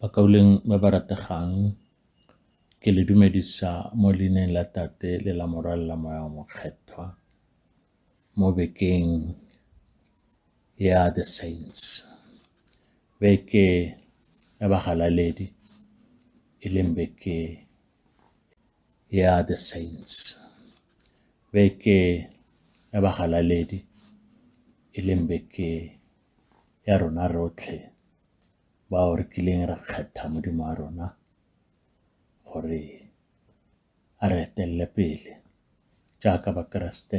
Bakauleng ba ba rategang, ke le dumedisa mo leineng la Tate le la Morwalo la Moya wa Mokgethwa mo bekeng ya The Saints. Beke ya bagalaledi e leng beke. ya The Saints, beke ya bagalaledi e leng beke ya rona rotlhe bao re kileng ra kgetha Modimo wa rona gore a re etelele pele jaaka Bakeresete.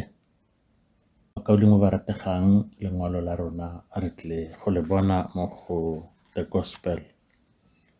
Ka Modimo ba rategang lengwalo la rona re tle go le bona mo go The Gospel.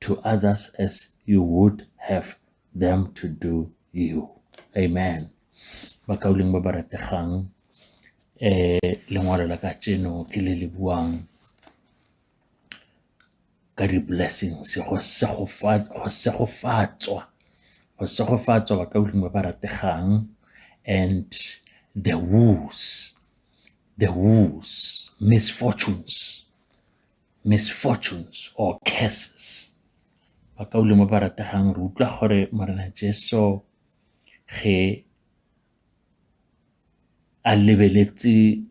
to others as you would have them to do you amen bakauleng ba ba rategang eh lengwalo la ka tseno ke le le buang ka di-blessings go segofatswa go segofatswa ba ka ba ba rategang and the woos the woos misfortunes misfortunes or curses ba ka ulemo ba rategang re utlwa gore morena jesu ge a lebeletse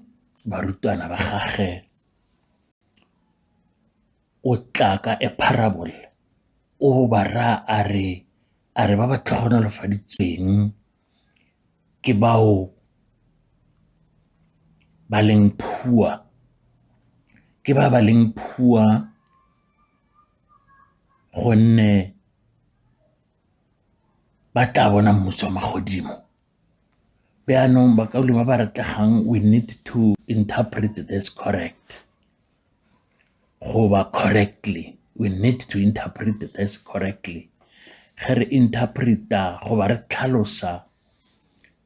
barutwana ba gage o tla ka a parable o ba raya a re a re ba ba tlhogonolofaditsweng ke bao ba leng poor, ke ba ba leng poor gonne ba tla bona mmuso wa magodimo. Jaanong ba ka ba ba re tlegang we need to interpret this correct. goba correctly, we need to interpret this correctly. Ge re interpret-a goba re tlhalosa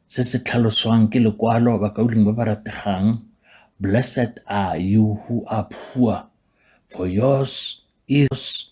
se se tlhaloswang ke lekwalo ba ba rategang, blessed are you who are poor, for yours is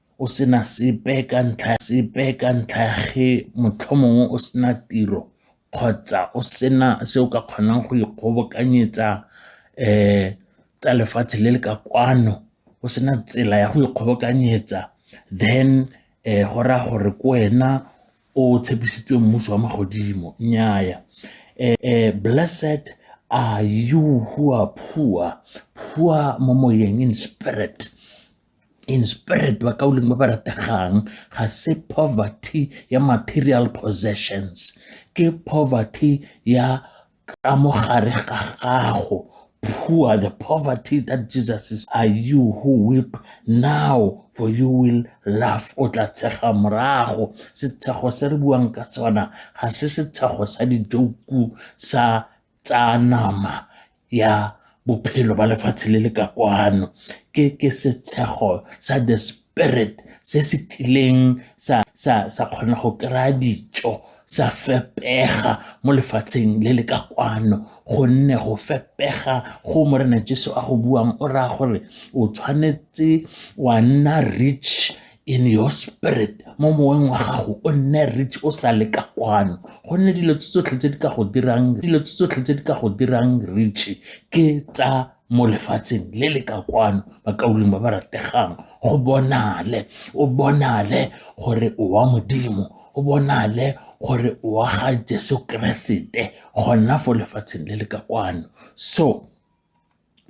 o sena sepe ka ntlha sepe ka ntlha ya ge motlhomongwe o sena tiro kgotsa o sena se o ka kgonang go ikgobokanyetsa um tsa lefatshe le le ka kwano o sena tsela ya go ikgobokanyetsa then um go raya gore ke wena o tshepisitswe mmuso wa magodimo nnyaya um blessed are you who are poor poor mo moyeng in spirit in spirit ba ka boleng ba ba rategang ga se poverty ya material possessions ke poverty ya ka mo gare ga gago poor the poverty that jesus is are you who weep now for you will laugh o tla tshega morago setshego se re buang ka sona ga se setshego sa dijoku sa tsa nama ya bophelo ba lefatshe le le ka kwano ke setshego sa the spirit se se tlileng sa kgona go kry-a dijo sa fepega mo lefatsheng le le ka kwano gonne go fepega go morena jeso a go buang o raya gore o tshwanetse wa nna rich in your spirit mo moweng wa gago o nne rich o sa le ka kwano gonne dilo tse tsotlhe tse di ka go dirang dilo tse tsotlhe tse di ka go dirang rich ke tsa mo lefatsheng le le ka kwano bakauleng ba ba rategang go bonale o bonale gore o wa modimo o bonale gore o wa ga jesu keresete gona fo lefatsheng le le ka kwano so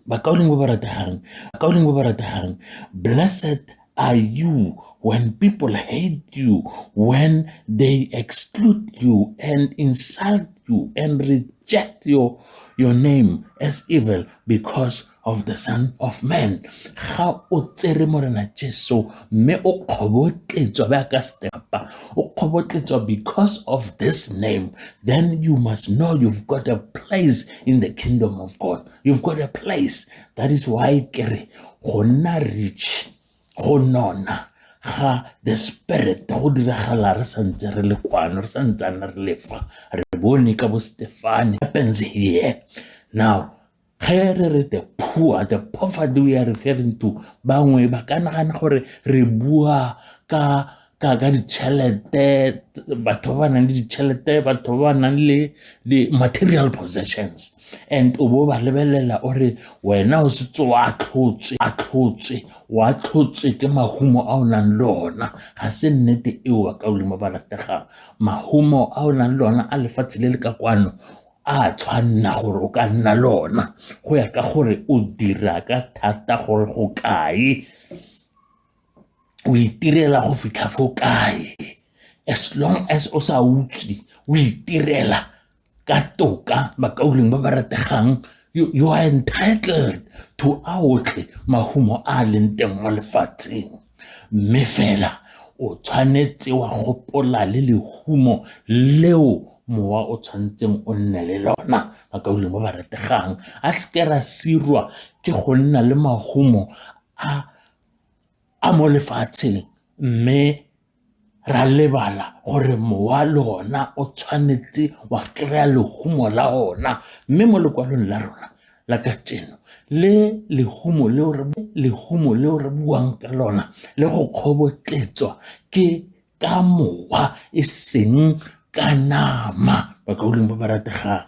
Bakaulengwe ba ratehang, bakaulengwe ba ratehang, blessed are you when people hate you, when they exclude you and insult you and reject your, your name as evil because of the son of man ga o tsere morena jesu mme o kgobotletswa ba ka stepa o kgobotletswa because of this name then you must know you've got a place in the kingdom of god you've got a place that is why ke re go nna rich go nona ga the spirit go diragala re santse re le kwano re santsane re lefa re bone ka bo stefane happens here now ge re re the poor the poverty we are referring to bangwe ba ka nagana gore re bua ka ka ka ditšhelete batho ba ba nang le ditšhelete batho ba ba nang le di-material possessions and o bo ba lebelela o re wena o setse wa tlhotswe a tlhotswe wa tlhotswe ke mahumo a o nang le ona ga se nnete eo ba ka olimo ba rategang mahumo a o nang le ona a lefatshe le le ka kwano a tshwanna gore o ka nna le ona go ya ka gore o dira ka thata gore go kae o itirela go fitlha fo kae as long as o sa utswe o itirela ka toka bakauleng ba ba rategang you, you are entitled to a otlhe mahumo a a leng teng mo lefatsheng mme fela o tshwanetse wa gopola le lehumo leo mowa o tshwanetseng o nne le lona bakauleng ba ba rategang a seke ra sirwa ke go nna le mahumo a a mo lefatsheng mme re a lebala gore mowa le ona o tshwanetse wa kry-a lehumo la ona mme mo lekwalong la rona la ka tseno le lehumo leo re buang ka lona le go kgobotletswa ke ka mowa e seng ka nama bakaulengwe ba ba rategang.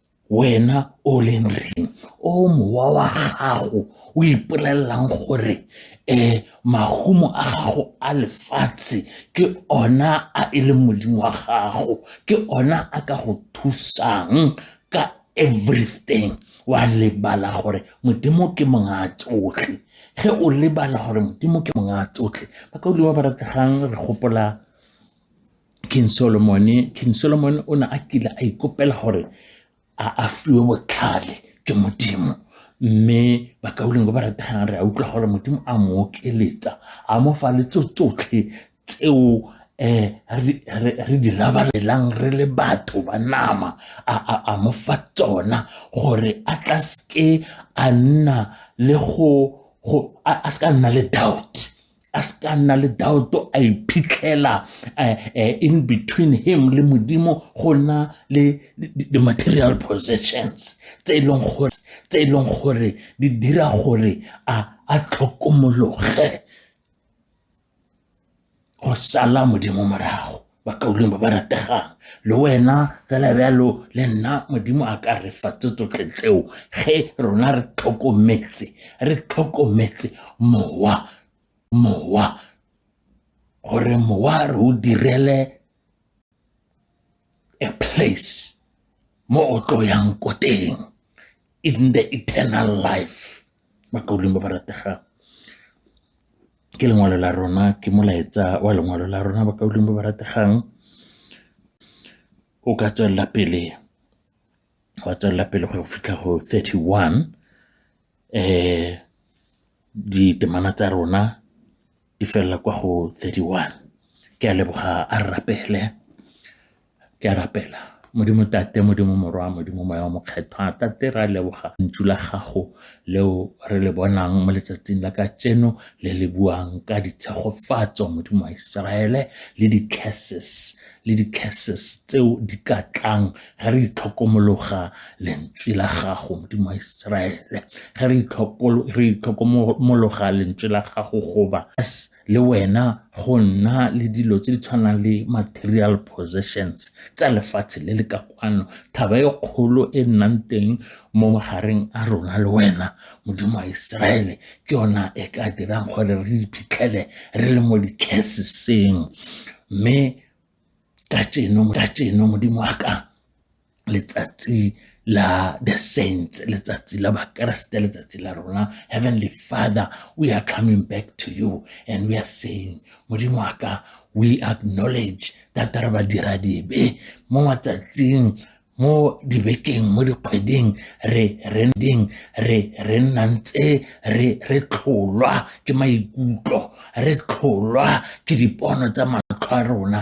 Wena o o leng reng o mowa wa gago o ipolelelang gore um mahumo a gago a lefatshe ke ona a e leng modimo wa gago ke ona a ka go thusang ka everything wa lebala gore modimo ke mongwe a tsotlhe ge o lebala gore modimo ke mongwe a tsotlhe ba ka o le ba ba rategang re gopola King Solomon-e, King Solomon o ne a kile a ikopela gore a fiwe botlhale ke modimo mme bakaulengwe ba ba rategang re a utlwa gore modimo a mo okeletsa a mo fa le tso tsotlhe tseo um re di labalelang re le batho ba nama a mo fa tsona gore a tla seke a nna le go a seka nna le doubt a se ka nna le daoto a iphitlhela eh, eh, in between him le modimo go nna le di-material possessions tse e leng gore tse e leng gore di dira gore a a tlhokomologe go sala modimo morago bakaulengwe ba ba rategang le wena fela bjalo le nna modimo a ka re fa tse tsotlhe tseo ge rona re tlhokometse re tlhokometse mowa mowa gore mowa re o direle a place mo o tlo yang ko teng in the eternal life bakaulengwe ba ba rategang ke lengwalo la rona ke molaetsa wa lengwalo la rona ba ka uleng ba ba rategang o ka tswelela pele wa tswelela pele go fitlha go 31 eh ditemana tsa rona di felela kwa go 31 ke a leboga a rapele Ke a rapela. Modimo Tate, Modimo Morwa, Modimo Moya wa Mokgethwa, Tate re a leboga ntsu la gago leo re le bonang mo letsatsing la ka tseno le le buang ka ditshegofatso Modimo wa Iseraele le di-curses le di-curses tseo di ka tlang ge re itlhokomologa lentswe la gago Modimo wa Iseraele ge re itlhokomologa lentswe la gago goba as le wena go nna le dilo tse di tshwanang le material possessions tsa lefatshe le le ka kwano thaba e kgolo e nnang teng mo magareng a rona le wena modimo wa iseraele ke yona e ka dirang gore re iphitlhele re le mo dicaseseng mme ka jeno modimo wa ka letsatsi la the saints letsatsi la bakeresete letsatsi la rona heavenly father we are coming back to you and we are saying modimo wa ka we acknowledge that re ba dira dibe mo matsatsing mo dibekeng mo dikgweding re re ding re re nna ntse re re tlholwa ke maikutlo re tlholwa ke dipono tsa matlho a rona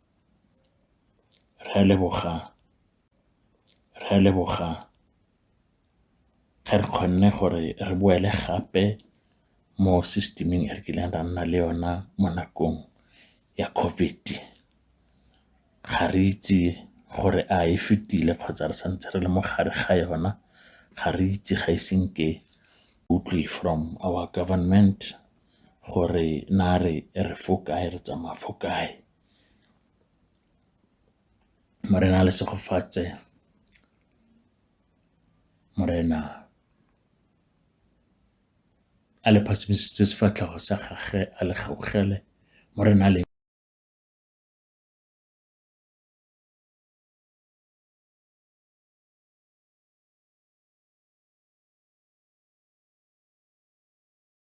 Rre Lebogang, Rre Lebogang, ga re kgonne gore re boele gape mo system-ing e re kileng ra nna le yona mo nakong ya COVID. Ga re itse gore a e fetile kgotsa re santse re le mo gare ga yona, ga re itse ga ise nke utlwe from our government. gore na re fo kae, re tsamaya fo kae. Morena a le segofatse, Morena a le phasamisitse sefatlhego sa gage, a le gaogele, Morena a le